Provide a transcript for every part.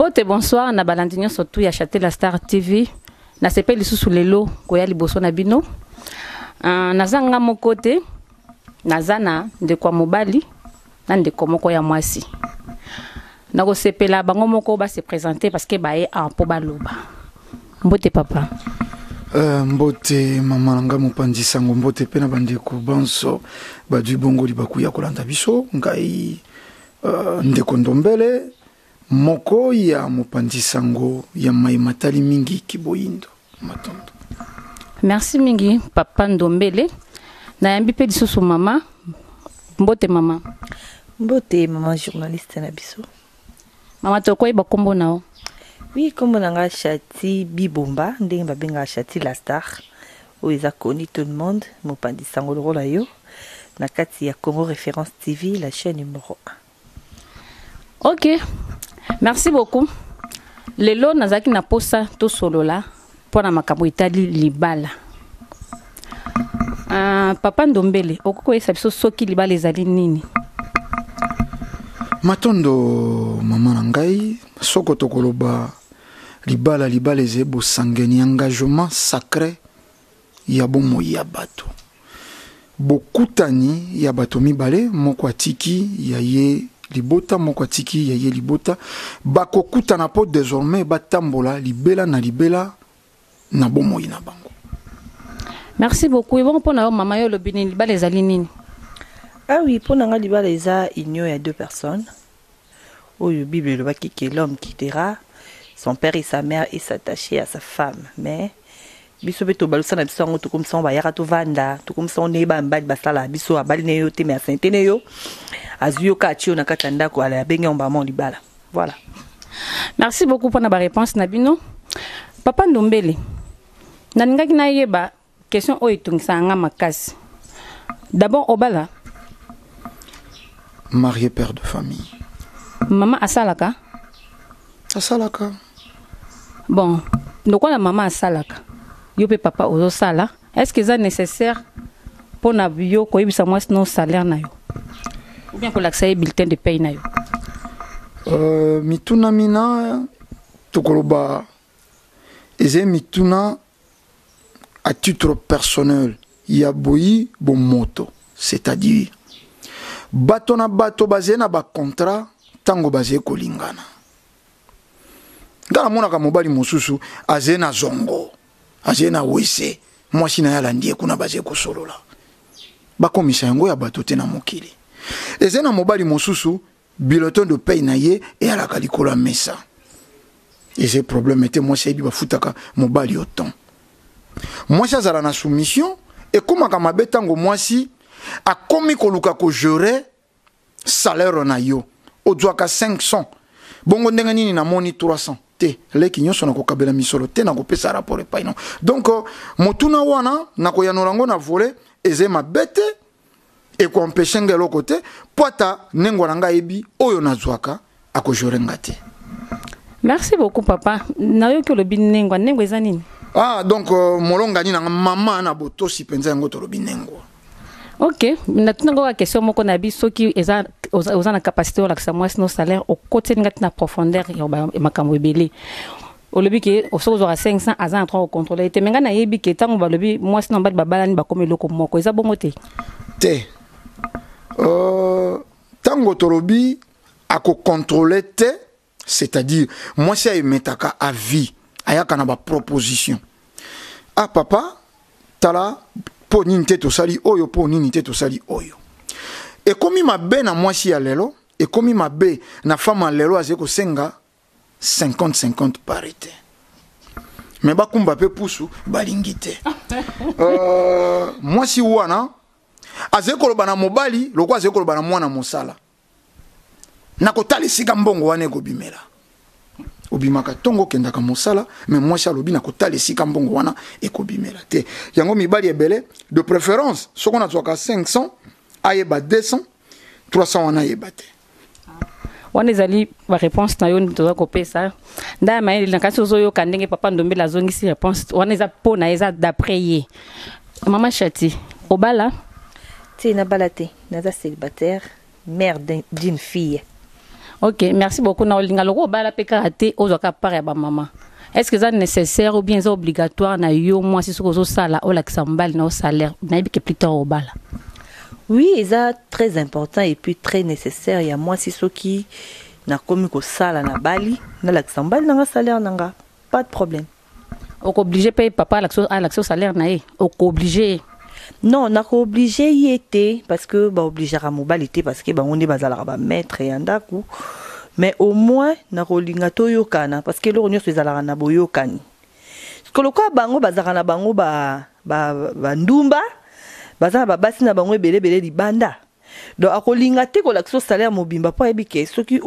mbote bonsoir na balandi nyonso tu ya chatela star tv nasepeli lisusu lelo koya liboso na bino uh, naza nga moko te naza na ndeko ya mobali na ndeko moko ya mwasi nakosepela bango moko ba se presenter parce que baye en mpo baloba mbote papa Uh, mbote mama na ngai mopanzi sango mbote mpe na bandeko banso badwi bongoli bakuya kolanda biso ngai uh, ndeko ndombele Moko ya mopanzi sango ya maye matali mingi kiboyindo. Matondo. Merci mingi papa Ndombele. Nayambi pe lisusu mama. Mbote mama. Mbote mama journaliste na biso. Mama tokoyi ba kombo na yo. Oui, kombo na nga Shati Bibomba, ndenge ba benga Shati la star. Oyo eza connu tout le monde, mopanzi sango lokola yo na kati ya Congo Référence TV, la chaîne numéro 1. ok merci beaucoup lelo nazalaki na mposa tosolola mpo na makambo etali libala uh, papa ndombele okoki koyesa biso soki libala ezali nini matondo mama na ngai soko tokoloba libala libala ezali bosangani engagement sacre ya bomoi ya bato. Bokutani ya bato mibale, moko atiki ya ye libota, moko atiki ya ye libota, bakokutana mpo desormais batambola libela na libela na bomoi na bango. Merci beaucoup. Ebongo mpo na yo mama yo olobi nini? Libala ezali nini? Ah oui, mpo na nga libala eza union ya deux personnes. oyo bible elobaki que l'homme quittera son père et sa mère et s'attacher à sa femme mais biso mpe tobalusa na biso yango tokomisa yango bayaka tovanda tokomisa yango ndenge bamibali basalaka biso abali ne yo te me asente ne yo azwi yo ka atye yo na kati ya ndako ala abengi yango bamao libala voilà merci beaucoup mpona bareponse na bino papa ndombele nalingaki nayeba Question oyo etungisaka nga makasi. D'abord obala marié père de famille. Maman asalaka? Asalaka. Bon, lokola maman asalaka, yo pe papa ozosala, est-ce que eza nécessaire mpo na yo koyebisa mwasi no salaire na yo? Ou bien kolakisa ye bulletin de paye na yo? Euh, mituna mina tokoloba eza mituna à titre personnel ya boyi bomoto c'est-à-dire bato na bato bazali na bacontra ntango bazali kolingana nga namonaka mobali mosusu azali na zongo azali na wese mwasi na ye alandi ye kuna bazali kosolola bakomisa yango ya bato te na mokili ezali na mobali mosusu biloton de paye na ye eyalaka likolo ya mesa eza problème te mwasi ayebi bafutaka mobali yo temps mwasi azala na soumission ekomaka mabe ntango mwasi akomi koluka kojere salaire na yo ozwaka 500 bongo ndenge nini namoni 300 te leki nyonso nakokabela misolo te nakopesa rapport epai no donc motuna wana nakoyanola yango na vole eza mabe te ekoempeshe nga eloko te mpo ata nengwa na nga ayebi oyo nazwaka akojore nga te merci beaucoup papa nayoki olobi nengwa nengwa eza nini ah donc euh, molongani nanga mama na botosi mpenza yango tolobi nengwa ok natunango kaka question moko na bi soki eza oza na capacité olakisa mwasi no salaire okotiseli nga ti na profondeur ya makambo ebele olobi ke soki ozwaka 500 aza na 3 kocontrole ye te me ngai nayebi ke ntango balobi mwasi na mobali babalani bakomi eloko moko eza bongo te te ntango euh, tolobi akocontrole te c'est-à-dire mwasi ayemetaka a vie ayaka na baproposition ah papa tala mpo nini te tosali oyo mpo nini te tosali oyo ekomi mabe na mwasi ya lelo ekomi mabe na femme ya lelo azali kosenga 50 50 parité me bakumba mpe pusu balingi te euh, mwasi wana azali koloba na mobali lokola azali koloba na mwana mosala na kotala esika mbongo wana ekobimela obimaka ntongo okendaka mosala me mwasi alobi na kotala esika mbongo wana ekobimela te yango mibali ebele de préférence soko nazwaka 500 ayeba 200 300 wana ayeba te wana ezali bareponse na yo nde toza kopesa ndaya mayele na kasi ozoyoka ndenge papa ndombela azongisi reponse wana eza mpo na eza d'après ye mama chati obala ti nabala te naza célibataire mère d'une fille ok merci beaucoup na olinga loko obala mpe kaka te ozwaka part ya bamama est ce que eza nécessaire ou bien eza obligatoire na yo mwasi soki ozosala olakisa mobali na yo salaire nayebi ke plutôt obala Oui eza très important et puis très necessaire ya mwasi soki nakomi kosala na bali nalakisa mobali nanga salaire nanga pas de problème okooblige mpe papa alakisa yo salaire na ye okooblige ye non nakooblige ye te parce que baobligeaka mobali te parce que bango nde bazalaka bamaître ya ndako mais au moins nakolinga toyokana parce que eloko nyonso ezalaka na boyokani Siko lokola bango bazalaka na bango ba, ba, ba ndumba baza na babasi na bango ebele ebele libanda donc akolinga te kolakisa salaire mobimba mpo ayebi ke soki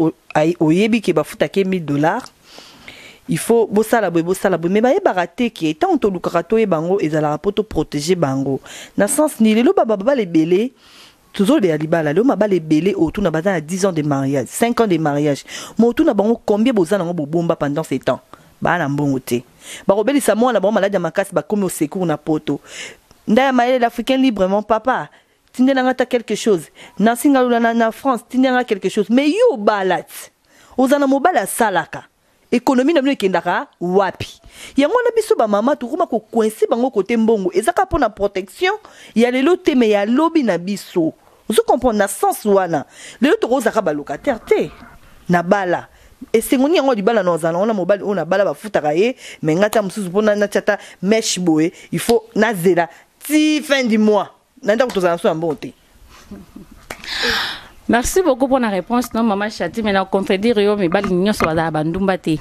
oyebi ke bafutaka ye 1000 dollars il faut bosala boye bosala boye me bayebaka te ke ntango tolukaka toyeba yango ezalaka mpo toprotege bango na sens nini lelo bababala ebele Tozolobela libala leo mabala ebele otuna baza na 10 ans de mariage, 5 ans de mariage. Mais otuna bango combien boza nango bobomba pendant ce temps? Baa na mbongo te. Bakobelisa mwana na bango maladi ya makasi bakomi au secours na poto. Ndaya mayele l'africain librement papa tindela nga ata quelque chose. Nancy Ngalula na France tindela nga quelque chose. Mais yo obalat ozala na mobali asalaka. Economie na bino ekendaka wapi? Yango wana biso ba mama tokoma ko coince bango kote mbongo eza kaka pona protection ya lelo te mais ya lobi na biso. Ozo comprendre na sens wana. Lelo toko zaka ba locataire te. Na bala. Esengo nini yango ya libala na ozala na wana mobali oyo na bala ba futaka ye mais nga ta mususu pona na tia ta meche boye il faut na zela ti fin du mois. na ndako tozala na so ya mbongo te merci beaucoup mpona réponse no mama chati mai na contredire yo mibali nyonso bazala bandumba te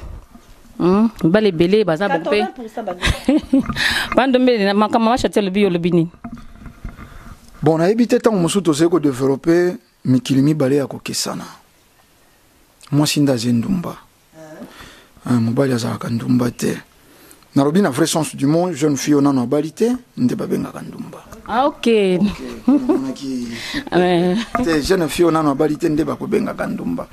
hmm? mibali ebele baza bango mpe bandombele makambo mama chati alobi yo olobi nini bon nayebi te ntango mosusu tozali kodevelope mikili mibale ya kokesana mwasi nde aze ndumba Ah, mobali azalaka ndumba te nalobi na vrai sens du monde jeune fille oyo nano abali te nde babengaka ndumba ah, ok te jeune fille oyo nano abali te nde bakobengaka ndumba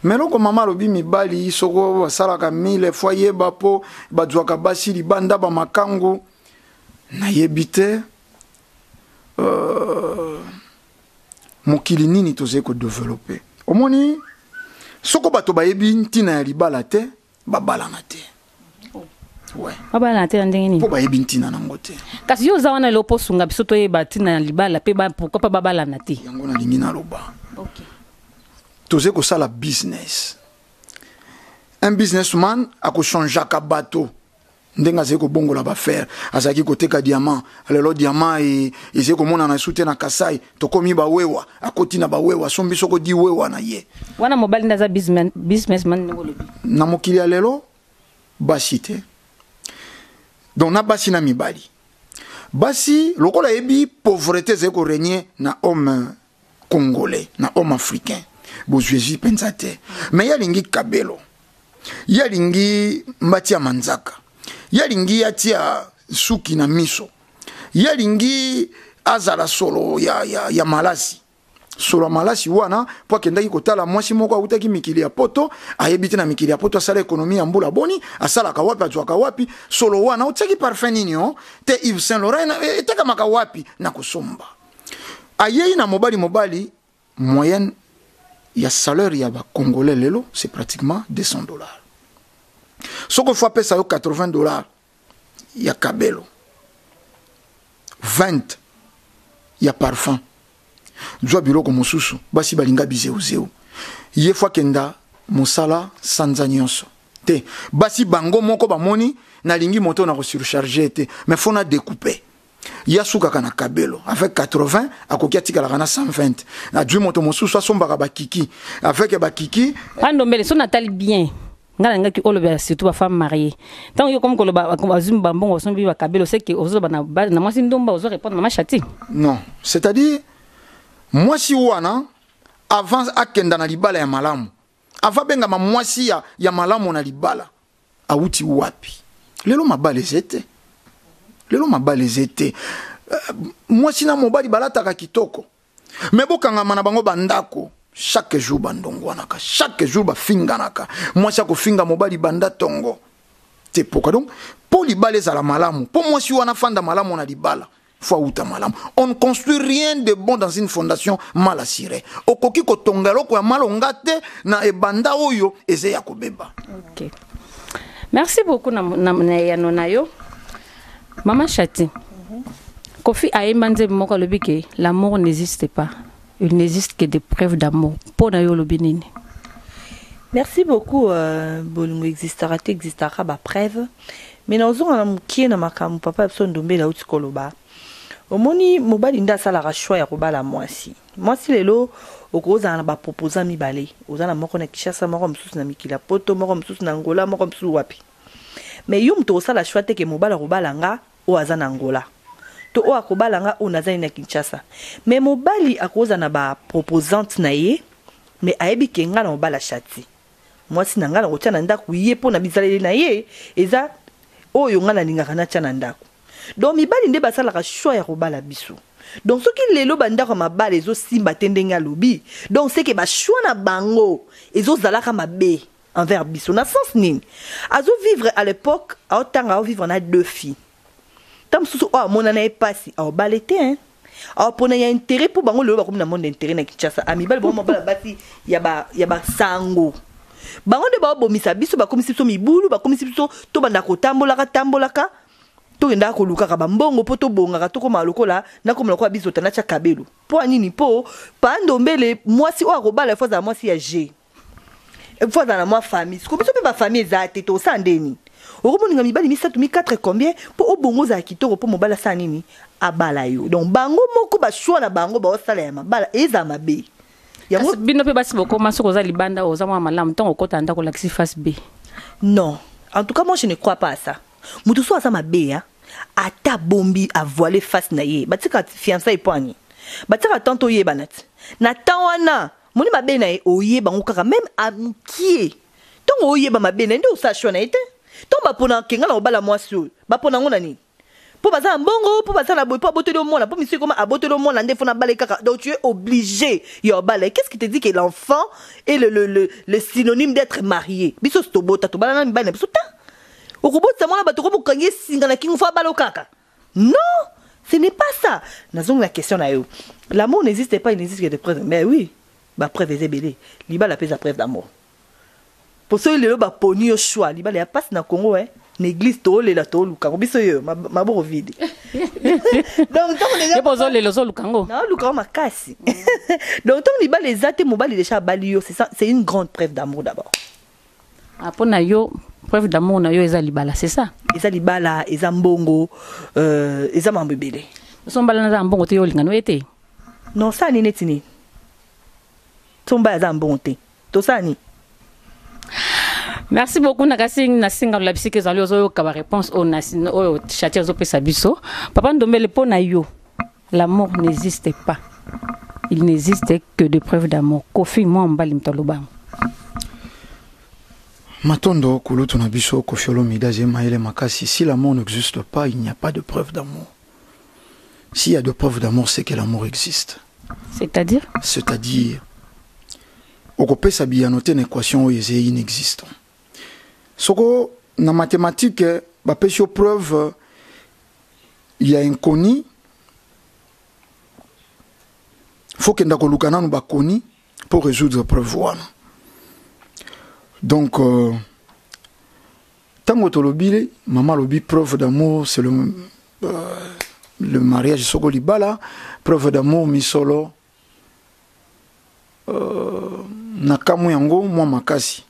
mais eloko mama alobi mibali soko basalaka mille fois yeba mpo bazwaka basi libanda bamakangu nayebi te euh... mokili nini tozali kodevelope omoni soko bato bayebi ntina ya libala te babalana te babalana te na ndenge nini mpo bayebi ntina nango te kasi yo oza wana elo mpo osunga biso toyeba ntina ya libala mpe pourkoi mpe babalana te yango nalingi naloba tozali kosala business un businessman akochangeaka bato ndenge azali kobongola bafere azalaki koteka diamant lelo diamant e, ezali komonana esu te na kasai tokomi bawewa akoti na bawewa sombi soko di wewa na ye wana mobali nde aza businessman ndenge olobi na mokili ya lelo basi te donc na basi na mibali basi lokola ayebi pauvrete ezali koregne na homme congolais na homme africain bozwezi mpenza te me ye alingi kabelo ye alingi mbati ya manzaka ye alingi atia suki na miso ye alingi azala solo ya, ya, ya malasi solo ya malasi wana mpo akendaki kotala mwasi moko awutaki mikili ya poto ayebi te na mikili ya poto asala ekonomi ya mbula boni asalaka wapi azwaka wapi solo wana otiaki parfum nini o oh? te ive saint laurent etekamaka wapi na kosomba ayei na mobali mobali moyenne ya salaire ya bacongolais lelo c'est pratiquement 200 dollars soki ofo apesa yo 80 dollars ya kabelo 20 ya parfum zwa biloko mosusu basi balinga bizeuzeu ye fo akenda mosala sanza nyonso te basi bango moko bamoni nalingi moto na kosurcharge te mais fo na decoupe ye asukaka na kabelo avec 80 akoki atikalaka na 120 ajui moto mosusu asombaka bakiki avec bakiki pandombele so natali bien ngai nangaki olobela surtout bafemme marie ntango yo komi koloba azwi bambongo osombi bakabelo seke ozoloba na mwasi ndumba ozo répondre na mashati non c'est-à-dire mwasi wana avant akenda na libala ya malamu ava bengama mwasi ya, ya malamu na libala awuti wapi lelo mabala eze te lelo mabala eze te euh, mwasi na mobali balataka kitoko me bokangama na bango bandako chaque jour bandongwanaka chaque jour bafinganaka mwasi akofinga mobali banda tongo te poka donc mpo libala ezala malamu mpo mwasi wana afanda malamu na libala faut awuta malamu on ne construit rien de bon dans une fondation mal assurée okoki kotonga eloko ya malonga te na ebanda oyo eza ya kobeba okay. merci beaucoup na, na, na eyano na yo mama chati mm -hmm. kofi ayemba nzembe moko alobi ke l'amour n'existe pas Il n'existe que des preuves d'amour. Mpo na yo olobi nini? Merci beaucoup euh, bolingo existaka te existaka ba preuve mais naozonga na mokie na makambo papa ya biso ndombela auti koloba omoni mobali nde asalaka choix ya kobala mwasi mwasi lelo okozala na baproposa mibale oza na moko na kishasa moko mosusu na mikili ya poto moko mosusu na ngola moko mosusu wapi mais yo moto okosala choix te ke mobali akobala nga oyo aza na Angola to oyo akobala nga oyo naza ye na Kinshasa mais mobali akoza na ba proposante na ye mais ayebi ke nga na obala shati mwasi na nga na kotia na ndako ye mpo na bizaleli na ye eza oyo nga nalingaka natia na ndako donc mibali nde basalaka choix ya kobala biso donc soki lelo bandako ya mabala ezosimba te ndenge alobi donc seke bachoix na bango ezozalaka mabe envers biso na sens nini azo vivre à l'époque ao tanga ao vivre na deux filles ta mosusu oyo amona na ye pasi ao bale te hein awa ah, pona ya intérêt mpo bango lelo bakomi na monde intérêt na kinshasa amibali ah, bango mabala basi ya basango bango nde baobomisa biso bakomisi biso mibulu bakomisi biso tobanda kotambolaka tambolaka tokendaka kolukaka bambongo mpo tobongaka tokomaka lokola nakoma lokola bizota natya kabelo mpo ya nini mpo pandombele mwasi oyo akobala efo azala mwasi ya je il faut azala na mwa famille siko biso mpe bafamille eza te tosala nde nini okomoninga mibali misato mi 4 combien mpo obongo ozala kitoko mpo mobali asala nini abala yo donc bango moko bashwa na bango baosala ya mabala ezala mabe yango bino mpe basi bokoma soki oza libanda oza mwa malamu ntango okota ndako olakisi face b non en tout cas moi je ne crois pas à ça moto so aza mabe ya ata bombi avoile face na ye batika fiançai mpo ani batika tanto oyebana ti na temps wana Moni mabe na ye oyeba ngo kaka meme a mukie ntongo oyeba mabe na ye nde osala choix na ye te ntongo bapona kenga na kobala mwasi oyo bapona yango na nini mpo baza na mbongo mpo baza na boye mpo abotoli yo mwana mpo misu ekoma abotoli yo mwana nde fona abala ye kaka donc tu es obligé ya obala ye qu'est ce qui te dit que l'enfant est le, le, le, le synonyme d'être marié biso si tobota tobala na mibali na biso te okobotisa mwana bato okomi okangi ye singa na kingo fo abala yo kaka Non, ce n'est pas ça. Nazongi la question na yo. L'amour n'existe pas, il n'existe que des preuves. Mais oui, ba preuves eza ebele. Libala pesa preuve d'amour. Po soki lelo ba poni yo choix, libala ya passe na Congo hein. Na église to lela to luka ko biso yo maboko vide. Donc tant déjà Yebo zo lelo zo luka ngo. Na luka makasi. Donc tant libala ezate mobali déjà bali yo, c'est ça, c'est une grande preuve d'amour d'abord. Ah, mpo na yo preuve d'amour na yo eza libala c'est ça eza libala eza mbongo euh, eza mambo ebele so mbala naza na mbongo te yo olingano ye te non sala nini neti nini so mbala aza na mbongo te tosala nini merci beaucoup na kasi nasenga olabisi ke ezali ozoyoka baréponse oyo oyo chatie azopesa biso papa ndombele mpo na yo L'amour n'existe pas. Il n'existe que des preuves d'amour. Kofi moi mbali mto lobango. Matondo kulutu na biso Kofi Olomide je maele makasi si l'amour n'existe pas il n'y a pas de preuve d'amour. S'il y a de preuves d'amour c'est que l'amour existe. C'est-à-dire C'est-à-dire okopesa biyano te na équation oyo ezali inexistant soko na mathématique bapesi yo preuve ya inconi faut kenda koluka nanu bakoni mpo résoudre preuve wana donc euh, ntango euh, tolobile mama alobi preuve d'amour c'est le, euh, le mariage soko libala preuve d'amour misolo Euh, nakamwi yango mwa makasi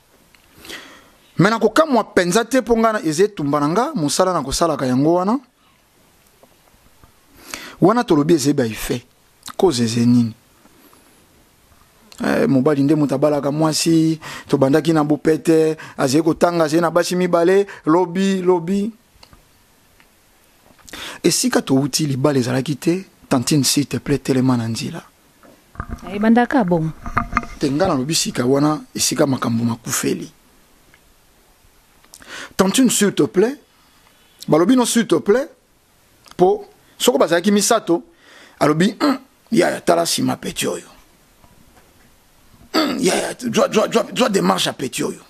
me nakokamwa mpenza te mpo ngai eza etumba na nga mosala na kosalaka yango wana wana tolobi eze baefe koze eze nini eh, mobali nde moto abalaka mwasi tobandaki na bopete azali kotanga azali na basi mibale lobi lobi Esika towuti libala ezalaki te tantine s'il te plait telema na nzela. Ebanda ka bongo. Te nga nalobi sika wana esika makambo makufeli. Tantine s'il te plait balobi no s'il te plait po soko bazalaki misato alobi mm, yaya tala sima peti oyo mm, yaya zwa demarche ya peti oyo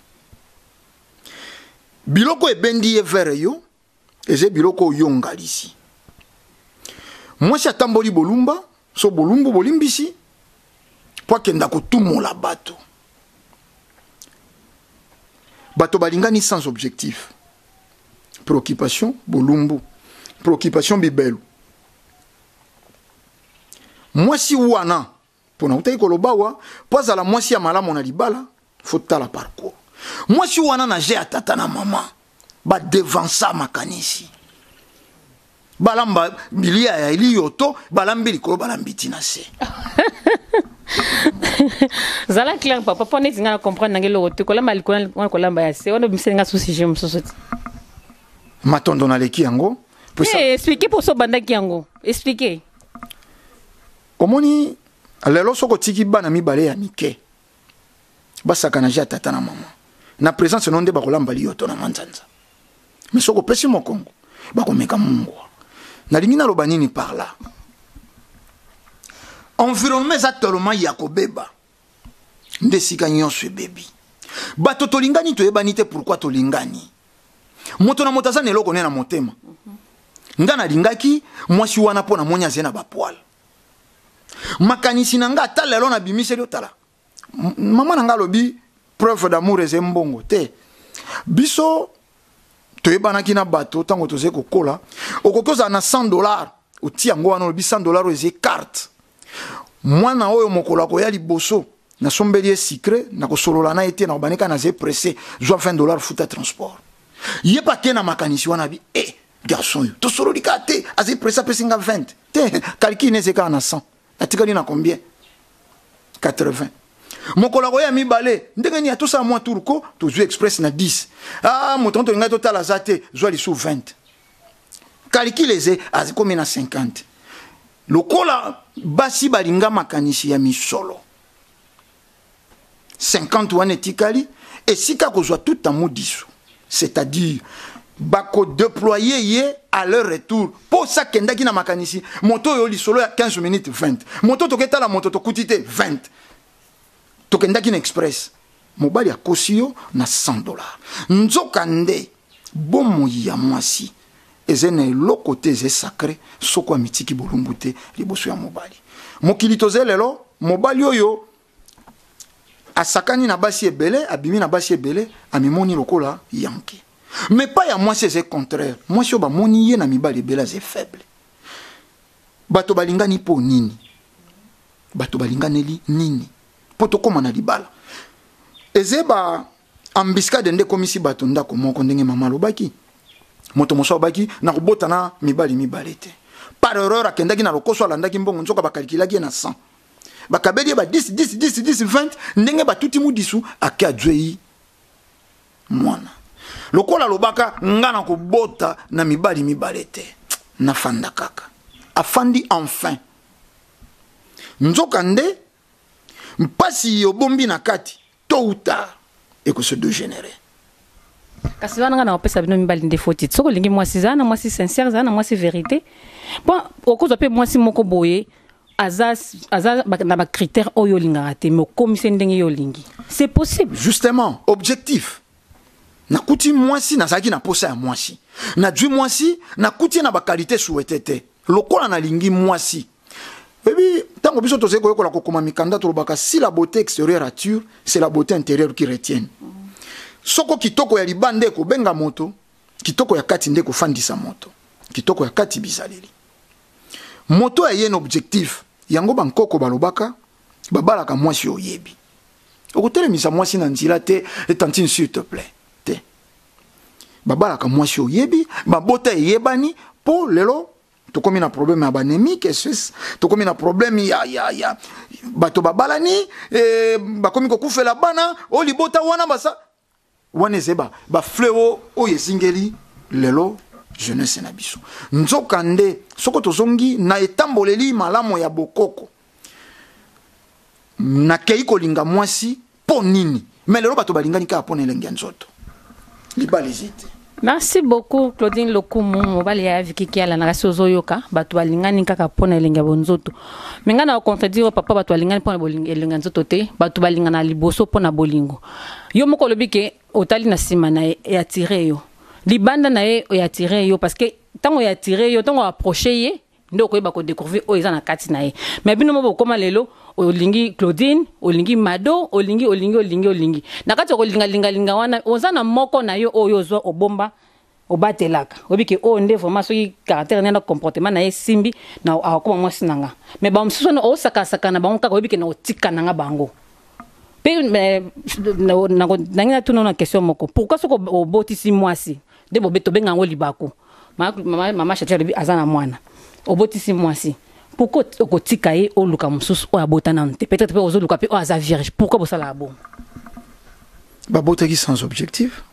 biloko ebendi ye vere yo eze biloko oyo yo ngalisi mwasi atamboli bolumba so bolumbu bolimbisi mpo akenda kotumola bato bato balingani sans objectif préoccupation bolumbu préoccupation bibelu mwasi wana Mpo nautaki koloba awa, mpo azala mwasi ya malamu na libala, fo tala parcours. Mwasi wana na je ya tata na mama, ba devansa makanisi. Balamba bilia ya eliyoto, balambi likolo, balambi ti na se. zala clair papa mpo neti ngai na comprendre nange eloko te kolamba likolo wana kolamba ya se wana obimiseli ngai susi je mosusu te matondo naleki yango eh, explike mposo obandaki yango explike Omoni lelo soki otiki bana mibale ya mike basakana ja tata na mama na presence no nde bakolamba liyoto na manzanza mais soki opesi mokongo bakomeka mungwa nalingi naloba nini par là environnement eza tellement ya kobeba nde esika nyonso ebebi bato tolingani toyebani te pourkui tolingani moto na moto aza na eloko ne na motema nga nalingaki mwasi wana mpo namoni azali na bapoile makanisi na nga ata lelo nabimiseli otala mama na nga alobi preuve d'amour ezali mbongo te biso toyebanaki na bato ntango tozali kokola okoki ozala na 100 dollar otia yango wana olobi 100 dollar oyo ezali carte mwana oyo mokolo akoya liboso nasombeli ye sucre nakosolola na ye te nakobandi kaka naza presse zwa 20 dollar futa transport ye mpe ake na makanisi wana bi e eh, garçon oyo tosololi kaka te azali presse apesi nga 20 te calcule na eze kaka na 100 atikali na combien 80 mokolo akoya mibale ndenge nini atosala mwa tour ko tozwi express na 10 a ah, moto yango tolingai totala aza te zwa lisu 20 calcule eze akomi na 50 lokola basi balinga makanisi ya misolo 50 wana etikali esika kozwa tout amour diso c'est-à-dire bakodeploye ye à leur retour mpo sakendaki na makanisi moto oyo lisolo ya 15 minutes 20 moto toketala moto tokuti te 20 tokendaki na express mobali akosi yo na 100 dollars nzoka nde bomoi ya mwasi eza na eloko te eza sacre soko amitiki bolumbu te liboso ya mobali mokili toza lelo mobali oyo asakani na basi ebele abimi na basi ebele amimoni lokola yanke mais pas ya mwasi eza contraire mwasi oyo bamoni ye na mibali ebele aza faible bato balingani mpo nini bato balinganeli nini mpo tokóma na libala eze ba ambiskade nde ekomisi bato ndako moko ndenge mama alobaki moto mosusu alobaki na kobota na mibali mibale te par erreur akendaki na lokoso alandaki mbongo nzoka bakalikilaki ye na 100 bakabeli ye ba 10 10 10 10 20 ndenge batuti mudisu ake azwei mwana lokola alobaka nga na kobota na mibali mibale te nafanda kaka afandi enfin nzoka nde mpasi yobombi na kati to uta ekose degenere kasi wana nga na kopesa bino mibali nde foti soki olingi mwasi zala na mwasi sincere zala na mwasi verité mpo okozwa mpe mwasi moko boye aza aza na ba critères oyo olingaka te mais okomise ndenge yo olingi c'est possible justement objectif nakuti mwasi nazalaki na posa ya mwasi najui mwasi nakuti ye na bakalite souhaite te lokola nalingi mwasi oyebi ntango biso tozali koyekola kokoma mikanda tolobaka si la beauté extérieure attire c'est la beauté intérieure qui retienne soko kitoko ya libanda ekobenga moto kitoko ya kati nde ekofandisa moto kitoko ya kati bizaleli Moto ya yen objectif yango ba nkoko balobaka babalaka mwasi oyo oyebi. Okotelemisa mwasi na nzela te et tantine s'il te plaît. Te. Babalaka mwasi oyo oyebi, mabota eyebani po lelo tokomi na problème ya banemike tokomi na problème ya, ya, ya bato babalani eh, bakomi kokufela bana o libota wana basa wana ezali ba, ba fleo oyo ezingeli lelo jeunesse na biso nzoka nde soko tozongi na etamboleli malamu ya bokoko nakei kolinga mwasi mpo nini me lelo bato balingani kaka mpo na elenge ya nzoto libala eza te Merci beaucoup Claudine Lokumu mobali ya Vicky Kiala na kasi ozoyoka bato balingani kaka mpo na elengi ya bonzoto me ngai na contredire papa bato balingani mpo na elengi ya nzoto te bato balingana liboso mpo na bolingo yo moko olobi ke otali na nsima na ye eatire yo libanda na ye eatire yo parce que ntango eatire yo ntango approche ye nde okoyeba ko découvrir oyo eza na kati na ye mais bino mo bokoma lelo olingi claudine olingi mado olingi olingi olingi olingi na kati okolingalingalinga wana oza na moko na yo oyo ozwa obomba obatelaka oyebi ke oyo nde vraiment soki caractère na comportement na ye esimbi na akokoma mwasi na nga mais bamosusu wana osakasaka na bango kaka oyebi ke na otika na nga bango mpe nangi natuna na question moko pourquoi soki obotisi mwasi nde bobe tobenga yango libaku mama shati alobi aza na mwana obotisi mwasi pourkoi okotika ye oluka mosusu oyo abota nanu te peut-être mpe ozoluka mpe oyo aza vierge pourkoi bosalaka bongo babotaki sans objectif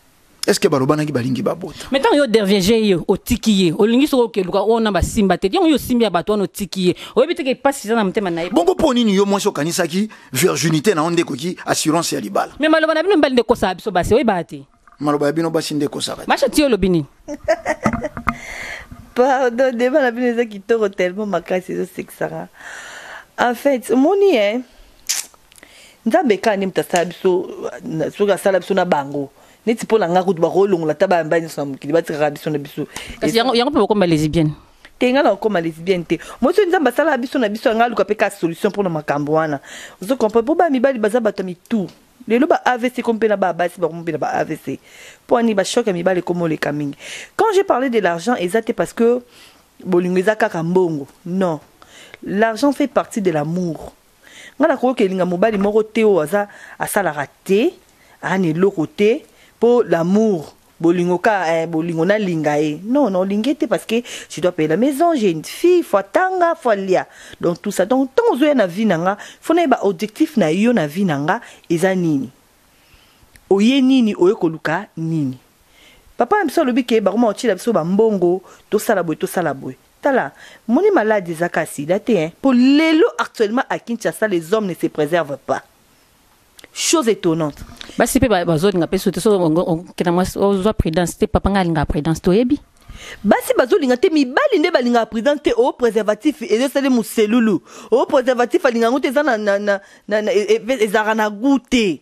est ce que balobanaki balingi babota mais ntango yo derviege ye otiki ye olingi soki okeluka oyo na basimba te yango yo osimbi ya bato wana otiki ye oyebi teke mpasi eza na motema na ye bongo mpo nini yo mwasi okanisaki virginité na yo nde ekoki assurance ya libala mais maloba na bino mibali nde ekosaka biso basi oyebaka te maloba ya bino basi nde ekosaka masha ti olobi nini pardon deba na bino eza kitoko tellement makasi ezosekisaka en fait omoni e eh? nzambe ekaa nde moto asala biso soki asala biso na bango neti mpo na ngai kutu bakolongola ata bayamba nyonso na mokili batikaka biso na biso yango mpe bakoma lesbienne te ngai nakokoma lesbienne te mosi nzambe asala biso na biso yangai aluka mpe ka solution mpo na makambo wana ozo comprendre mpo bana mibali baza bato ya mitu lelo ba avc ekomi mpe na ba basi bakomi mpe na ba avc mpo ani ba choc ya mibali ekomi oleka mingi quand j'ai parlé de l'argent eza te parce que bolingo eza kaka mbongo non l'argent fait partie de l'amour ngai nakoki kelinga mobali moko te oyo aza asalaka te aa na eloko te mpo l'amour Bolingo ka eh bolingo na linga ye non non linge te parce que je dois payer la maison j'ai une fille faut atanga faut alia donc tout ça donc tant ozoya na vie nanga faut na ba objectif na yo na vie nanga eza nini oye nini oye koluka nini papa na biso alobi ke bakoma kotiela biso bambongo tosala boye tosala boye tala moni malade ezaka sida te hein po lelo actuellement à kinshasa les hommes ne se préservent pas chose étonnante basi mpe bazolinga mpe soki okenda mwasi ozwa prudence te papa ngai alingaka prudence toyebi basi bazolinga te mibali nde balingaka prudence te o oh, préservatif ezosali moselulu o oh, préservatif alinga yango te eza e, e, ezalaka na goût te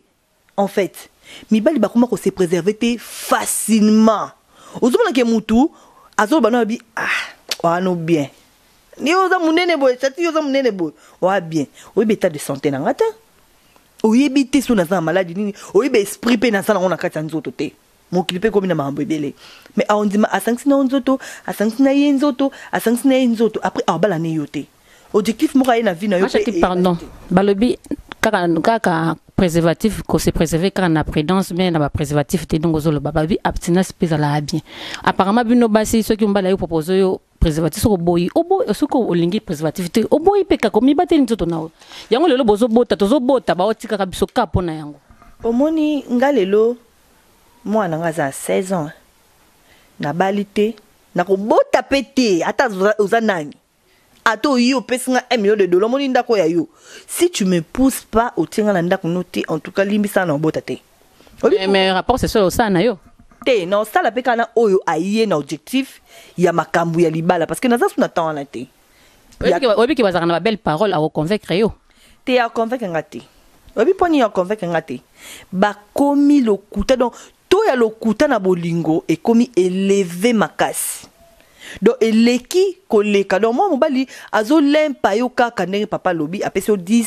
en fait mibali bakoma kose préserve te facilement ozomonake motu azoloba na yabi ah wana bien yo oza munene boye chati yo oza munene boye oa bien oyebi etat de santé na nga te oyebi te so naza na maladi nini oyebi esprit mpe naza nango na kati ya nzoto te mokili mpe ekomi na makambo ebele me aondima asangisi na yo nzoto asangisi na ye nzoto asangisi na ye nzoto apres aobala ne yo te objectif moko aye na vie na yo pardon balobi kaka kaka préservatif ko se préserver kaka na prudence bien na ba préservatif te donc ozoloba balobi abstinence mpe ezalaka bien apparemment bino basi soki mobali ayo propose yo preservatif soki oboyi oboyi soki olingi preservatif te oboyi mpe kaka omibateli nzoto na yo yango lelo bozobota tozobota baotikaka biso ka mpo na yango omoni nga lelo mwana nga aza 16 ans nabali te nakobota mpe te ata oza nani ata oyi opesi nga 1 million de dollars omoni ndako ya yo si tu me pousse pas otie nga na ndako no te en tout cas limbisa nga na obota te mais, mais rapport c'est sur ça na yo te na osala mpe kaka na oyo aye na objectif ya makambo ya libala parce que naza su na temps wana te oyebi ke bazalaka na babelle parole akoconvaincre yo te aconvaincre nga te oyebi mpo nini aconvaincre nga te bakomi lokuta donc to ya lokuta na bolingo ekomi eleve makasi donc eleki koleka donc mwa mobali azolempa yo kaka ndenge papa alobi apesi yo 10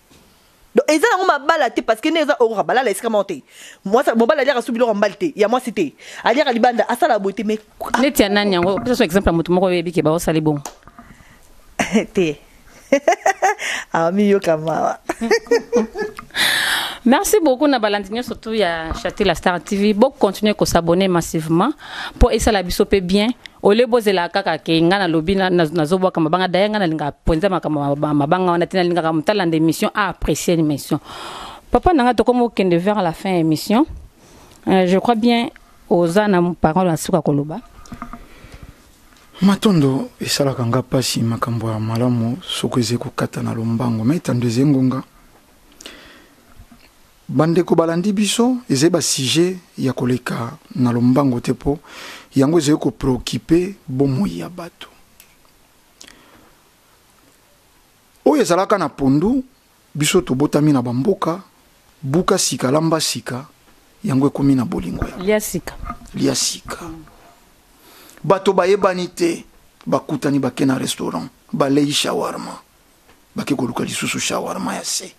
Donc eza nango mabala te parce que nde eza okoka balala esika moko te. Mwasi mobali aliaka su biloko ya mobali te, ya mwasi te. Aliaka libanda, asala boye te mais Neti ya nani yango? Pesa so exemple ya moto moko oyebi ke baosali bongo. te. Amiyoka mawa. Merci beaucoup na balandi nionso tout ya Chate la Star TV. Bo continuer ko s'abonner massivement. po esala biso pe bien ole bozela kaka ke nga na lobi na na zo bwaka mabanga daya nga na linga ponza makama mabanga wana tina linga ka mutala nde mission a apprécier l'émission papa nanga to komo kende vers la fin émission euh, je crois bien oza na parole na suka koloba matondo esalaka nga pasi makambo ya malamu soko eze kokata na lombango me etando eze ngonga Bandeko balandi biso, ezali ba sujets ya koleka na lombango te mpo yango ezali ko preoccuper bomoi ya bato. Oyo ezalaka na pondu, biso tobotami na bamboka, buka sika, lamba sika, yango ekomi na bolingo ya. Lia sika. Lia sika. Bato bayebani te, bakutani bake na restaurant, balei shawarma. bake koluka lisusu shawarma ya se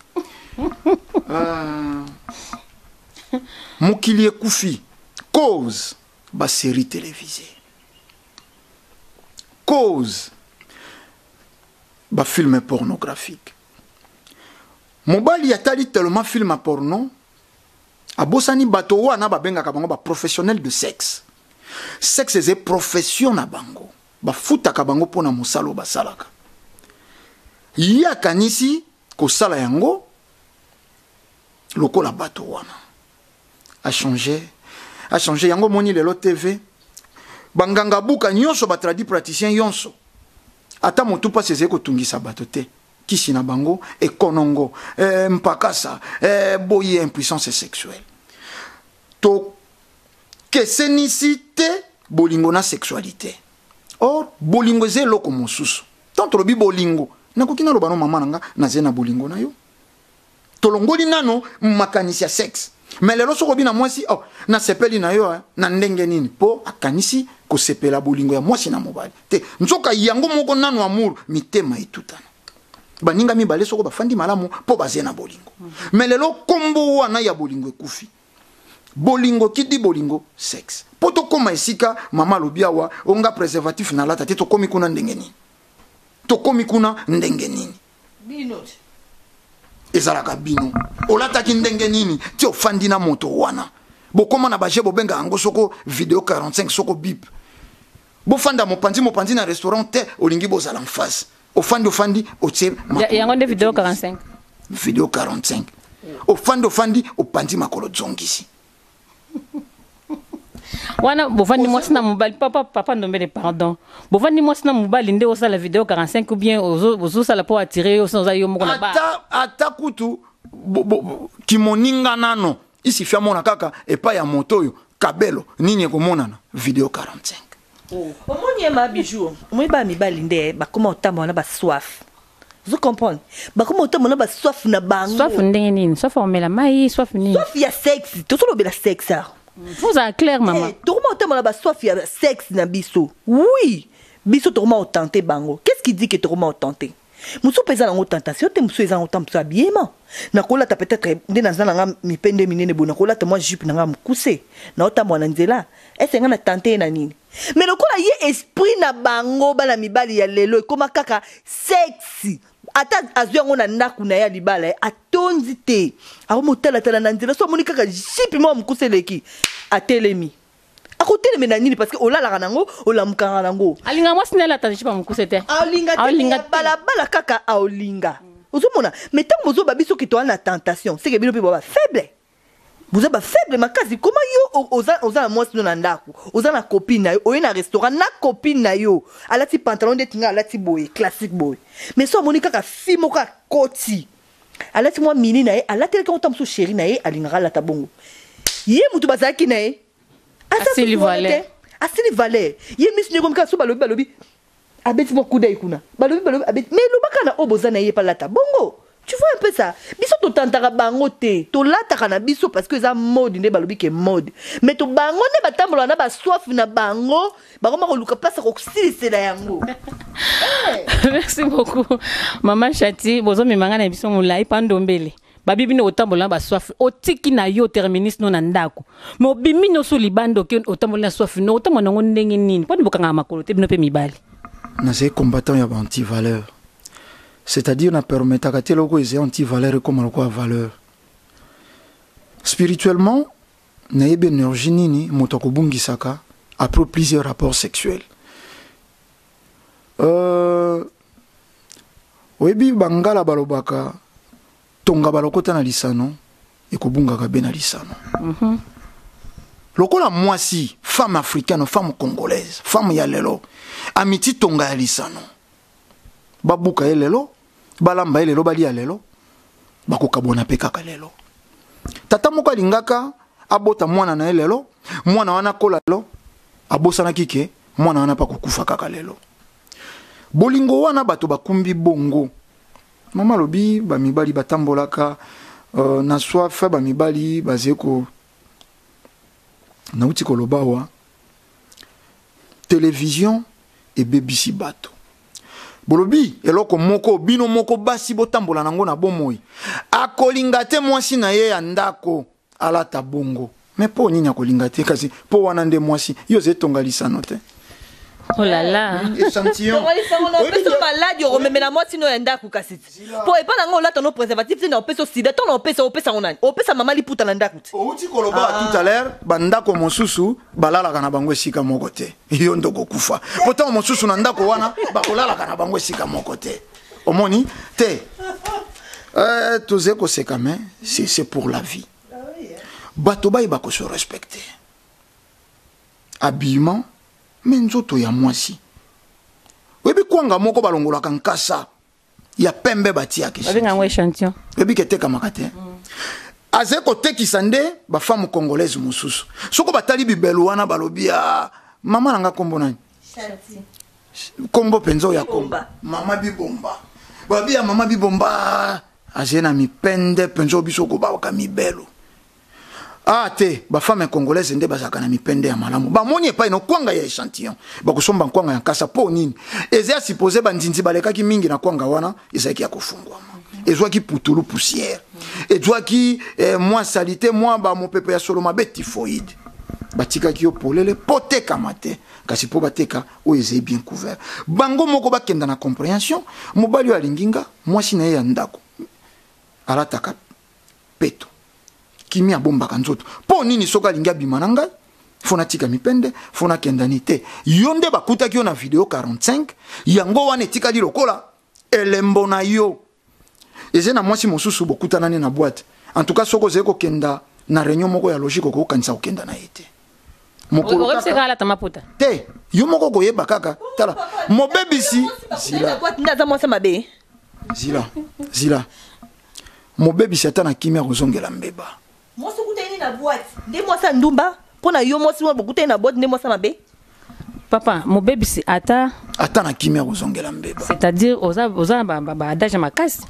ah. mokili ekufi cause baserie télévisé cause bafilme pornographique mobali atali tellement filme porno abosani bato wana babengaka bango baprofessionnel de sexe sexe eza profession na bango Bafutaka bango mpo na mosala oyo basalaka. Ye akanisi kosala yango lokola bato wana. Achange, achange. Yango omoni lelo TV, banganga buka nyonso, batradi praticien yonso, ata motu mpasi ezali kotungisa bato te. Kisi na bango ekonongo, eh, mpakasa, eh, boye impuissance sexuelle. Tokesenisi te bolingo na sexualite. Or, bolingo eza eloko mosusu. Ntango tolobi bolingo, nakoki naloba no mama na nga, nazali na bolingo na yo. Tolongoli nano makanisi ya sexe. Mais lelo soki obi na mwasi, oh, nasepeli na yo eh, na ndenge nini? Po akanisi kosepela bolingo ya mwasi na mobali. Te, nzoka yango moko nano amour, mitema etutana. baninga mibale soko bafandi malamu mpo baze na bolingo me lelo nkombo wana ya bolingo ekufi bolingo kidi bolingo sexe mpo tokóma esika mama alobi awa onga préservatif nalata te tokómi kuna ndenge nini tokómi kuna ndenge nini ezalaka bino olataki ndenge nini ti ofandi na moto wana bokóma na baje bobenga yango soko video 45 soko bipe bofanda mopanzi mopanzi na restaurant te olingi bozala en face ofandi ofandi otie yango nde video 45 video 45 ofandi ofandi opanzi makolo zongisi wana bovandi mwasi na mobali papa papa ndombele pardon bovandi mwasi na mobali nde osala video 45 ou bien ozosala mpo atire yo sina oza yo moko na ba ata kutu kimoninga nano isifi amona kaka epai ya moto oyo kabelo nini ekomonana video 45 omoni ye ma bijou omoni bana mibali nde bakoma kotambola na baswafe ozo comprendre bakoma kotambola na baswafe na bango swafe ndenge nini swafe omela mai swafe nini swafe ya sexe tozolobela sexe awa ozala claire eh, mama tokoma kotambola na baswafe ya sexe na biso oui biso tokoma kotante bango qu'est ce qui dit ke tokoma kotante mosusu mpe eza nango tentation te mosusu eza nango temps mosusu abiyema nakolata peut-être nde naza na nga mipe nde minene boye nakolata mwa jupe na nga mokuse naotambola na nzela ese nga na tante ye na nini me lokola ye esprit na bango bana mibali ya lelo ekoma kaka sexi ata azwi yango na ndako na ye ya libala ye atondi te akomi otalatala na nzela so amoni kaka jipe moko mokuse eleki atelemi akotelemela nini parceke olalaka nango olamukaka nango alinga mwasi nde alata jipa mokuse te aolinga te balabala kaka aolinga ozomona me ntango bozoba biso ke toa na tentation seke bino mpe boa bafaible boza bafaible makasi koma yo oza, oza na mwasi no na ndako oza na copine na yo oye na restaurant na copine na yo alati pantalon ndeti ngai alati boye classique boye me so amoni kaka fi moko akoti Alati mwa mini na ye alatelaki yango ntango mosusu sheri na ye alingaka alata bongo ye moto bazalaki na ye asili valeur asili valeur ye miso nde ekomi kaka so balobi balobi abeti mwa kudai kuna balobi balobi abeti mais elobaka na oyo boza na ye palata bongo tu vois un peu ça biso totantaka bango te tolataka na biso parce que eza mode nde balobi ke mode mais to bango nde batambolaka na basoif na bango bakoma koluka place ya kosilisela yango merci beaucoup mama chati bozomema ngai na biso molai mpa ndombele babi bino otambola na baswafi otiki na yo terminus no na ndako me obimi nyonso libanda oke otamboli na swafi no otambola nango ndenge nini mponi bokangaka makolo te bino mpe mibali nazali combattant ya baantivaleur c'est-à-dire na permetaka te eloko ezali antivaleur ekoma lokola valeur spirituellement Nayebi energie nini moto akobungisaka après plusieurs rapports sexuels. Euh, oyebi bangala balobaka tonga balokota na lisano ekobungaka be na lisano. Mm -hmm. Lokola mwasi femme africaine, femme congolaise, femme ya lelo amiti tonga ya lisano. babuka ye lelo balamba ye lelo balia lelo bakokabwana mpe kaka lelo tata moko alingaka abota mwana na ye lelo mwana wana akola lelo abosanaki ke mwana wana mpe akokufa kaka lelo bolingo wana bato bakumbi bongo mama alobi bamibali batambolaka uh, na soif bamibali bazeko nauti koloba wa Television ebebisi bato. Bolobi eloko moko bino moko basi botambola na yango na bomoi. Akolinga te mwasi na ye ya ndako alata bongo. Me mpo nini akolinga te kasi mpo wana nde mwasi yo ozali tonga lisano te. Oh là là. Echantillon. Oyebi maladi okomemela mwasi no ya ndako kasi. Po epa na nga olata no preservatif te na opesa sida to na opesa opesa ngo nani opesa mama liputa na ndaku te outi koloba ah. tout à l'heure ba ndako mosusu balalaka na bango esika moko te yo ndo kokufa po ntango mosusu na ndako wana bakolalaka na bango esika moko te omoni te euh, tozali koseka me c'est pour la vie ah bato bayeba kose respecte habillement me nzoto ya mwasi oyebi kwanga moko balongolaka nkasa ya pembe batiyaka babenga yango échantillon oyebi ke etekamaka te azali kotekisa nde bafemme congolaise mosusu soko batali bibelu wana balobi ya ah, mama na nga nkombo nani nkombo mpenza oyo ya komba mama bibomba balobi ya mama bibomba azali na mipende mpenza oyo biso kobawaka mibelu ah te ba femme congolaise nde bazalaka na mipende ya malamu bamoni epai na kwanga ya échantillon bakosomba nkwanga ya nkasa mpo nini eza ya supposé bandinzi balekaki mingi na kwanga wana ezalaki ya kofungwama ezwaki putulu poussière ezwaki eh, mwa salite mwa bamopepe ya solo mabe typhoïde batikaki yo polele mpo tekama te kasi mpo bateka oyo ezali bien couvert bango moko bakenda na comprehension mobali oyo alingi nga mwasi na ye ya ndako alataka peto kimi abombaka nzoto mpo nini soki alingi abima na ngai fo natika mipende fo nakendani te yo nde bakutaki yo na video 45 yango wana etikali lokola elembo na yo eza na mwasi mosusu bokutanani na bwate en tout cas soki ozali kokenda na réunion moko ya logique okokokanisa kokenda na ye te mokolo kaka alata maputa te yo moko koyeba kaka tala mobebisi zila ndaza mwasi mabe zila zila mobebisi ata na kimia kozongela mbeba mwasi okutani na boite nde mwasi ndumba mpo na yo mwasi wana bokutani na boite nde mwasi mabe papa mobebisi ata ata na kimia kozongela mbeba c'est-à-dire oza oza na baadage ya makasi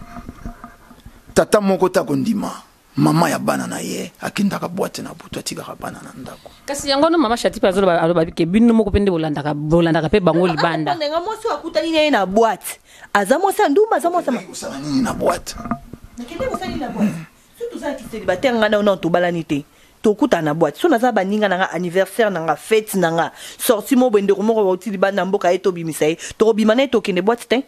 tata moko ta kondima Maman ya bana na ye akendaka boite na butu atikaka bana na ndako. Kasi yango no mama Shatipe azoloba aloba ke bino moko pende bolandaka bolandaka pe bango libanda. Ndenge mwasi akutani na ye na boite aza mwasi ya ndumba aza mwasi kosala nini na boite. Nakende kosala nini na boite. Soki toza célibataire nga na yo nano tobalani te tokutana na boite so naza baninga na nga anniversaire na nga fete na nga sorti mo boye ndeko moko bauti libanda mboka ye tobimisa ye tokobima na ye tokende boite te.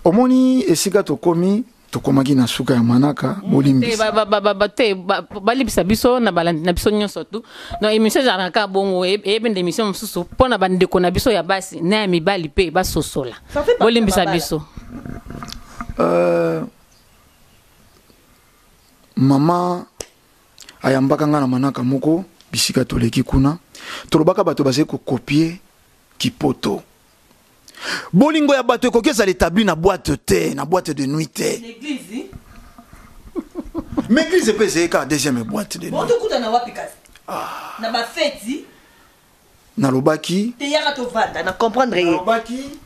omoni esika tokomi tokomaki na suka ya manaka mm. bolimbisate balibisa biso na balandi na biso nyonso tu donc émission ezalaka kaka bongo e, eyebi nde émission mosusu mpo na bandeko na biso ya basi na ya mibali mpe basosola bolimbisa biso euh, mama ayambaka ngai na manaka moko bisika toleki kuna tolobaka bato bazali kokopie kipoto bolingo ya bato ekoki ezala établi na boîte te na boîte de nuit te mais église mpe ezali kaka deuxième boîte de nuit tokutana wapi kasi ah. na bafeti nalobaki teyaka tovanda na comprendre ye nalobaki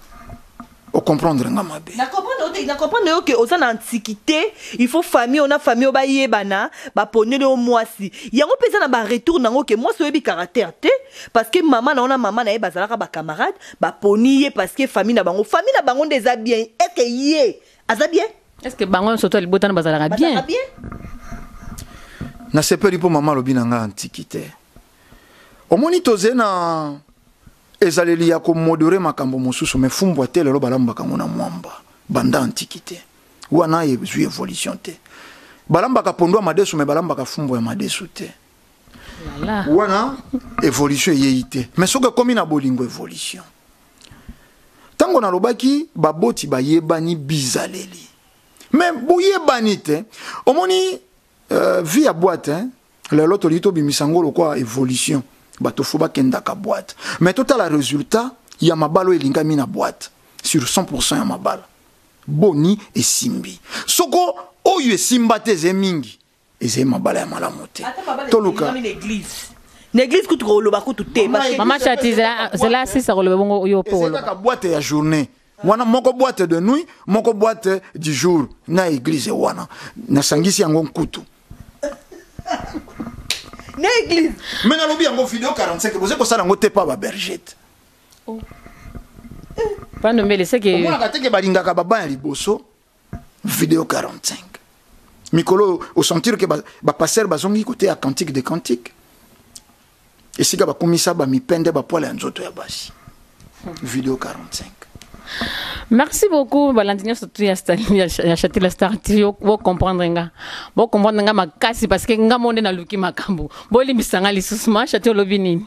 ocomprendre nga mabe nacomprendre yo ke oza na antiquité il faut famille ona famille oyo bayebana baponeli yo mwasi yango mpe eza na baretour nango ke mwasi oyebi caractère te parce que mama na yo na mama na ye bazalaka bacamarade baponi ye parce que famille na bango famille na bango nde eza bien eke ye aza bien est ce que bango nyonso to ya libota na bazalaka bien bazalaka bien nasepeli mpo mama alobi na ngai antiki te omoni toze na ezaleli ya komodore makambo mosusu me fumbwa te lelo balambaka yango na mwamba banda antiki te wana ezwi evolution te balambaka pondu ya madesu me balambaka fumbwa ya madesu te wana evolution eyei te mais soki ekomi na bolingo evolution ntango nalobaki baboti bayebani bizaleli mais boyebani te omoni euh, vie ya boite hein? lelo tolingi tobimisa yango lokwa evolution bato fo bakendaka boite mais totala résultat ya mabala oyo elingami na boite sur 100 ya mabala boni esimbi soko oyo esimba te eze mingi ezali mabala ya malamu te toluka na église kutu koloba kutu te mama chati zela asisa koloba bongo yo mpe koloba kaka boite ya journée wana moko boite de nuit moko boite du jour na église wana nasangisi yango nkutu na église me nalobi yango video 45 boza kosala yango te pa babergete oh. pandombele seke omonaka teke balingaka baban ya liboso video 45 mikolo oyo osentir ke bapastere ba bazongi koteya cantique de cantique esika bakumisa bamipende bapwale ya nzoto ya basi video 45 merci beaucoup balandi nyonso tu ya chatila star ti bocomprendre nga bocomprendre nga makasi parce que nga mo nde naluki makambo bolimbisa nga lisusu ma chati olobi nini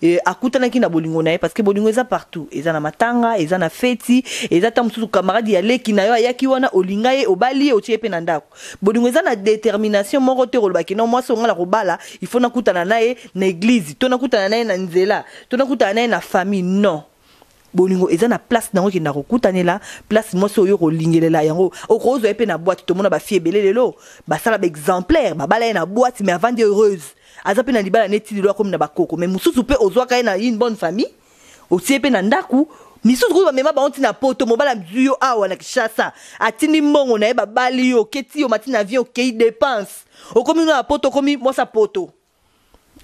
Et akutanaki na bolingo na ye parce que bolingo eza partout eza na matanga eza na feti eza ta mususu camarade ya leki na yo ayaki wana olinga ye obali ye otie ye pe na ndako bolingo eza na determination moko te koloba ke non mwasi oyo nga na kobala il faut nakutana na ye na eglise to nakutana na ye na nzela to nakutana na ye na famille non bolingo eza na place nango ekenda kokutanela place mwasi oyo kolingelela yango okozwa ye mpe na boite tomona bafi ebele lelo basala baexemplaire babala ye na boite mais avandi heureuse aza mpe na libala neti lelo akomi na bakoko mais mosusu mpe ozwaka ye na une bonne famille otie mpe na ndako misusu kutu bamema bango ntina poto mobali azwi yo awa na kinshasa atindi mbongo na ye babali yo oketi yo mati na avion okei depense okomi no ya poto okomi mwasi ya poto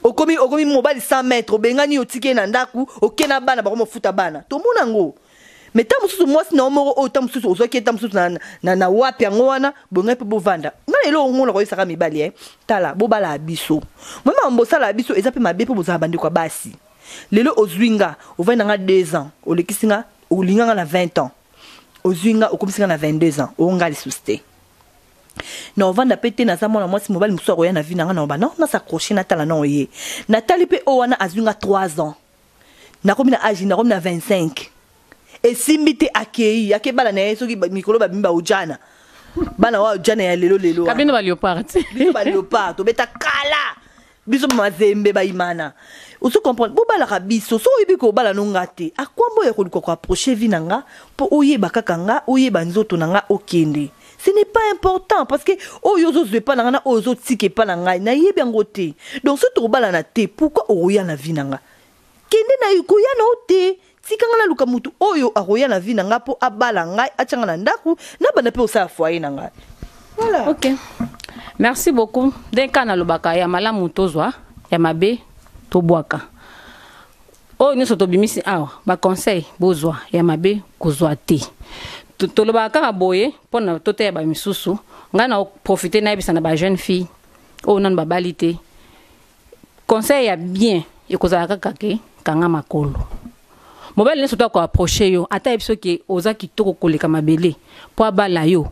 okomi okomi mobali 100 mètre obengani yo otiki ye na ndako oke na bana bakomi ofuta bana tomona yango me ntango mosusu mwasi na yo moko oyo ntango mosusu ozwaki ye ntango mosusu na, na, na wapi yango wana bongai mpe bovanda ngai lelo omona koyebisaka mibali e tala bobalaka biso mama mambo osalaka biso eza mpe mabe mpo bozala bandeko ya basi lelo ozwi nga ovai na nga 2 ans olekisi nga olinga nga na 20 ans ozwi nga okomisi nga na 22 ans onga lisusu te Nao vanda pe te naza mwana mwasi mobali mosusu akoya na vie na nga nao ba nao na s'accrocher na tala nao ye na tali pe oyo wana azui nga 3 ans nakomi na age nakomi na 25 esimbi te akeyi ake bala na ye soki ba- mikolo babimi ba ujana bana wa ujana ya lelo lelo wana. kabino ba leopard ti biso ba leopard tobeta kala biso mazembe bayimana ozo comprendre bobalaka biso so oyebi kobala no nga te akwambo ya koluka koaproche vi na nga mpo oyeba kaka nga oyeba nzoto na nga okende ce n'est pas important parce que oyo ozozwa epa na nga na oyo ozotika epa na ngai nayebi yango te donc soki tokobalana te pourquoi okoya na vi na nga Kende nayo koya na yo te. Tika nga naluka mutu oyo akoya na vie na nga po abala ngai, atia nga na ndaku, nabanda pe kosala foyer na nga. Voilà. Ok. Merci beaucoup. Ndenge kaka nalobaka ya malamu tozwa, ya mabe tobwaka. Oyo nyonso tobimisi awa, ba conseil bozwa, ya mabe kozwa te. To- Tolobaka kaka boye mpo na toteya bamisusu. Ngai na profite nayebisa na ba jeune fille oyo nanu babali te conseil ya bien ekozala kaka ke kanga makolo mobali nyonso to akoaproche yo ata yebi soki oza kitoko koleka mabele mpo abala yo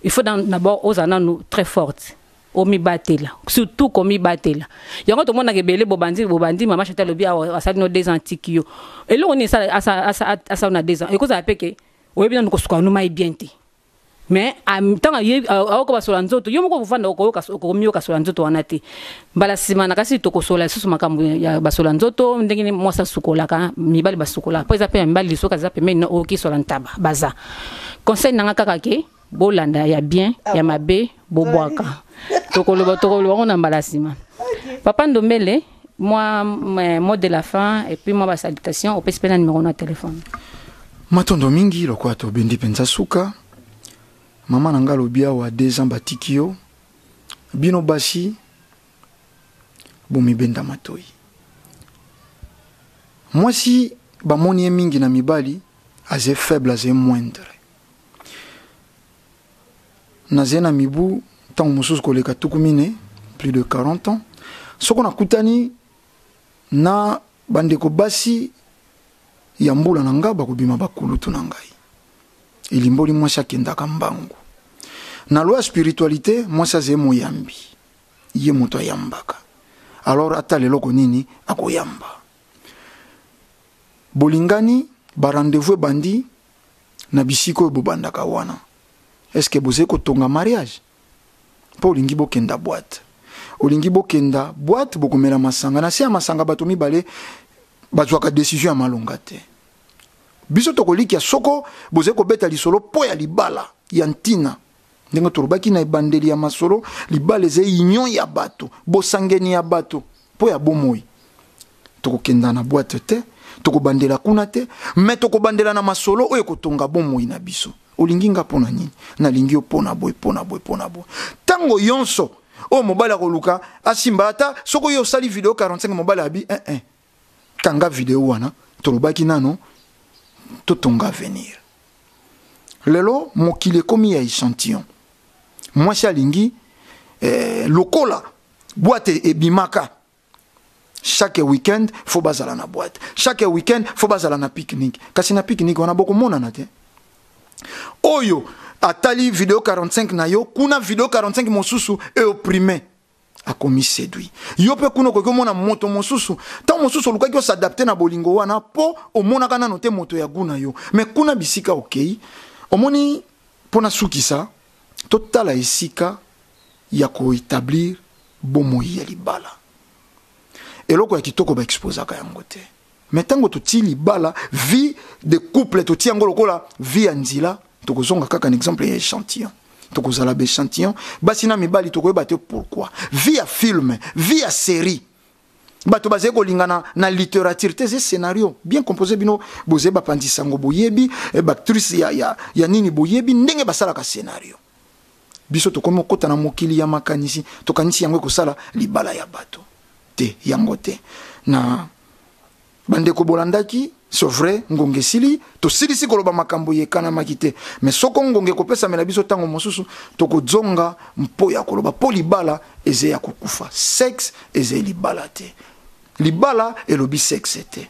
il faut d'abord ozala nanu très forte omibatela surtout komibatela yango tomonaka ebele bobandi bobandi mama chate alobi asali no deux ans atiki yo eloko nini asala na deux ans ekozala mpe ke oyebi nanu kosuka numa ye bien te mais ntango aoka basola nzoto yo moko okofanda okomiyoka sola nzoto wana te mbala nsima na kasi tokosola lisusu makambo ya basola nzoto ndenge mwasi asukolaka mibali basukola mpo eza mpe ya mibali lisoka eza pembeni na oyoki sola ntaba baza conseil nanga kaka ke bolanda ya bien ya mabe bobwaka tokoloba tokoloba ngo na mbala sima papa ndombele mwa mot de la fin et puis mwa ba salutation opesi mpe na numero na telefone matondo mingi lokola tobendi mpenza suka mama na ngai alobi awa deux ans batiki yo bino basi bomibenda matoi mwasi bamoni ye mingi na mibali aze faible aze moindre Nazali na mibu ntango mosusu koleka tuku mine, plus de 40 ans, soko nakutani na bandeko basi ya mbula na ngai, bakobima bakulutu na ngai. Elimboli mwasi akendaka mbangu. Na loi ya spiritualite, mwasi azali moyambi, ye moto ayambaka. Alors atala eloko nini akoyamba. Bolingani, ba rendez-vous ebandi, na bisika oyo bobandaka wana est-ce que bozali kotonga mariage mpo olingi bokenda boite olingi bokenda boite bokomela masanga na se ya masanga bato mibale bazwaka decision ya malonga te biso tokolikia soko bozali kobeta lisolo mpo ya libala ya ntina ndenge tolobaki na ebandeli ya masolo libala eza union ya bato bosangeni ya bato mpo ya bomoi tokokenda na bwate te tokobandela kuna te me tokobandela na masolo oyo ekotonga bomoi na biso olingi nga mpo na nini nalingi yo mpo na boye mpo na boye mpo na boye ntango yonso oyo mobali akoluka asimba ata soki oyo osali video 45 mobali abi eh, eh. kanga video wana tolobaki nano totonga avenir lelo mokili ekomi ya echantillon mwasi alingi eh, lokola bwate ebimaka chaque week-end fo bazala na boite chaque week-end fo bazala na pique-nique kasi na pique-nique wana bokomonana te oyo atali video 45 na yo kuna video 45 mosusu eoprime akomi séduit yo mpe kuna okoki omona moto mosusu ntango mosusu olukaki osadapte na bolingo wana mpo omonaka nano te moto ya gu na yo me kuna bisika okei omoni mpo nasukisa totala esika ya koetablir bomoi ya libala eloko ya kitoko baexposaka yango te mais tango totii libala vie de couple totii yango lokola vie ya nzela tokozonga kaka na exemple ya échantillon tokozala baéchantillon basi na mibali tokoyeba te pourquoi vie ya film vie ya série bato bazali kolingana na littérature te eza scénario bien composé bino bozali bapanzi sango boyebi eh, bactrice ya, ya, ya nini boyebi ndenge basalaka scénario Biso tokomi kokota na mokili ya makanisi, tokanisi yango ekosala libala ya bato te, yango te na bandeko bolandaki c'est vrai ngonga esili tosilisi koloba makambo yekanamaki te mais soko ngonga ekopesamela biso ntango mosusu tokozonga mpo ya koloba mpo libala eze ya kokufa sexe eze libala te libala elobi sexe te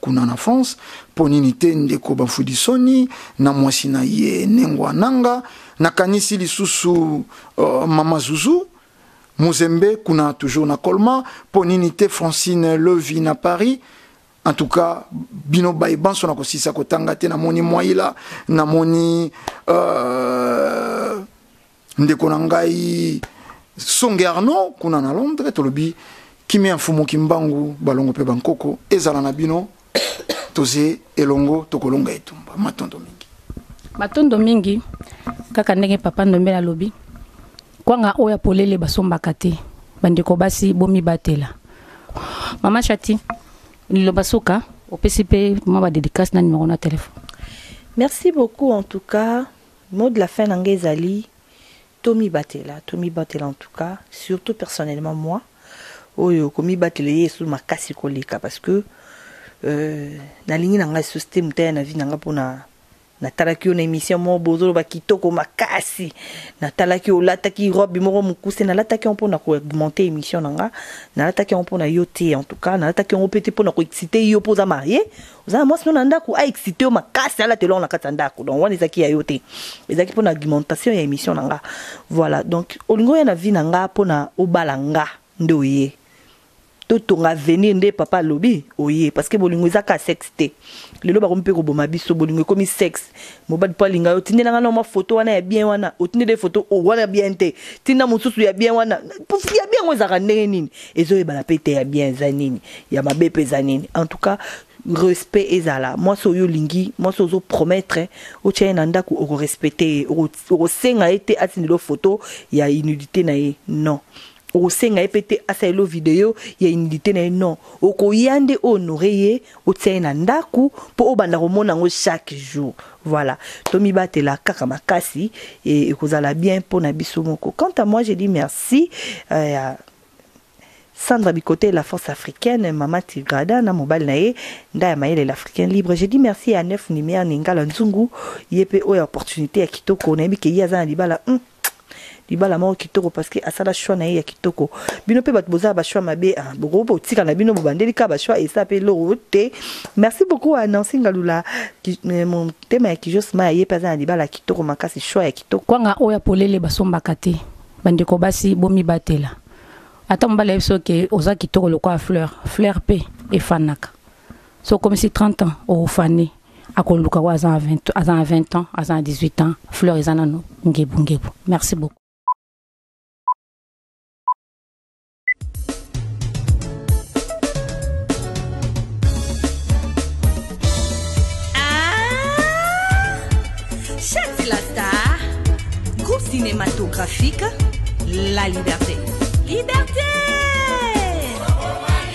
kuna na France mpo nini te ndeko Bafudisoni na mwasi na ye Nengwa Nanga, nakanisi lisusu uh, mama Zuzu Muzembe kuna toujours na Colma, mpo nini te Francine Levi na Paris en tout cas bino baye banso na kosisa kotanga te namoni mwaila namoni uh, ndeko na ngai songe arnaud kuna na londres tolobi kimia mfumu kimbangu balongo mpe bankoko ezala na bino toze elongo tokolonga etumba matondo mingi matondo mingi kaka ndenge papa ndombe alobi kwanga oyo ya polele basombaka te bandeko basi bomibatela mama chati liloba suka opesi mpe mwa badedikasi na nimero na telefone merci beaucoup en tout cas Mot de la fin na nga ezali tomibatela, tomibatela en tout cas surtout personnellement moi oyo komibatela eye lisusu makasi koleka parce que euh, nalingi na nga lisusu te moto aya na vie na nga mpona natalaki yo na émission moko bozoloba kitoko makasi natalaki olataki robe moko mokuse nalataki yango mpona koaugmente émission na nga nalataki yango mpona yo te en tout cas nalataki yango mpe te mpona koexcite yo mpo oza marie oza na mwasi no na ndako a excite yo makasi alata eloko na kati ya ndako donc wana ezalaki ya yo te ezalaki mpo na argumentation ya émission na nga voilà donc olingi oya na vie na nga mpo na obala nga nde oye totonga avenir nde papa alobi oye parce que bolingo ezaka sexe te lelo bakomi mpe koboma biso bolingo ekomi sexe Mobali po alinga yo tindela nga na mwa photo wana ya bien wana otindela ye photo oh, wana bien te tinda mosusu ya bien wana ya bien yango ezalaka ndenge nini ezoyebana mpe te ya bien eza nini ya mabe mpe eza nini en tout cas respect ezala mwasi oyo olingi mwasi ozo promettre otya ye na ndako okorespecte ye okosenga ye te atindela yo photo ya inudité na ye non Okosenga ye pe te asalela yo video ya humilite na ye non, okoya nde o honorer ye, otia ye na ndaku po obanda komona yango chaque jour. Voilà. Tomibatela kaka makasi et ekozala bien pona biso moko. Quant à moi je dis merci ya Sandra Bikotey la force africaine, Mama Tigrada na mobali na ye Ndaya Mayele l'Africain libre. Je dis merci ya Neuf Lumière Ningala Nzungu, ye pe oyo ya opportunite ya kitoko, nayebi ke ye aza na libala hum. libala moko kitoko parce que asala choix na ye ya kitoko bino mpe bato bozala bachoix mabe ah, bokoki botika na bino bobandeli kaka bachoix esa mpe eloko te merci beaucoup a nansi ngalula euh, motema ya kijosma ye mpe aza na libala kitoko makasi choix ya kitoko kwanga oyo ya polele basombaka te bandeko basi bomibatela ata mobali ya biso ke oza kitoko lokola fleur fleur mpe efanaka so okomisi 30 ans ofane akoluka oyo aza na 20 ans aza na 18 ans fleur eza nano ngebungebu merci beaucoup cinématographique La Liberté. Liberté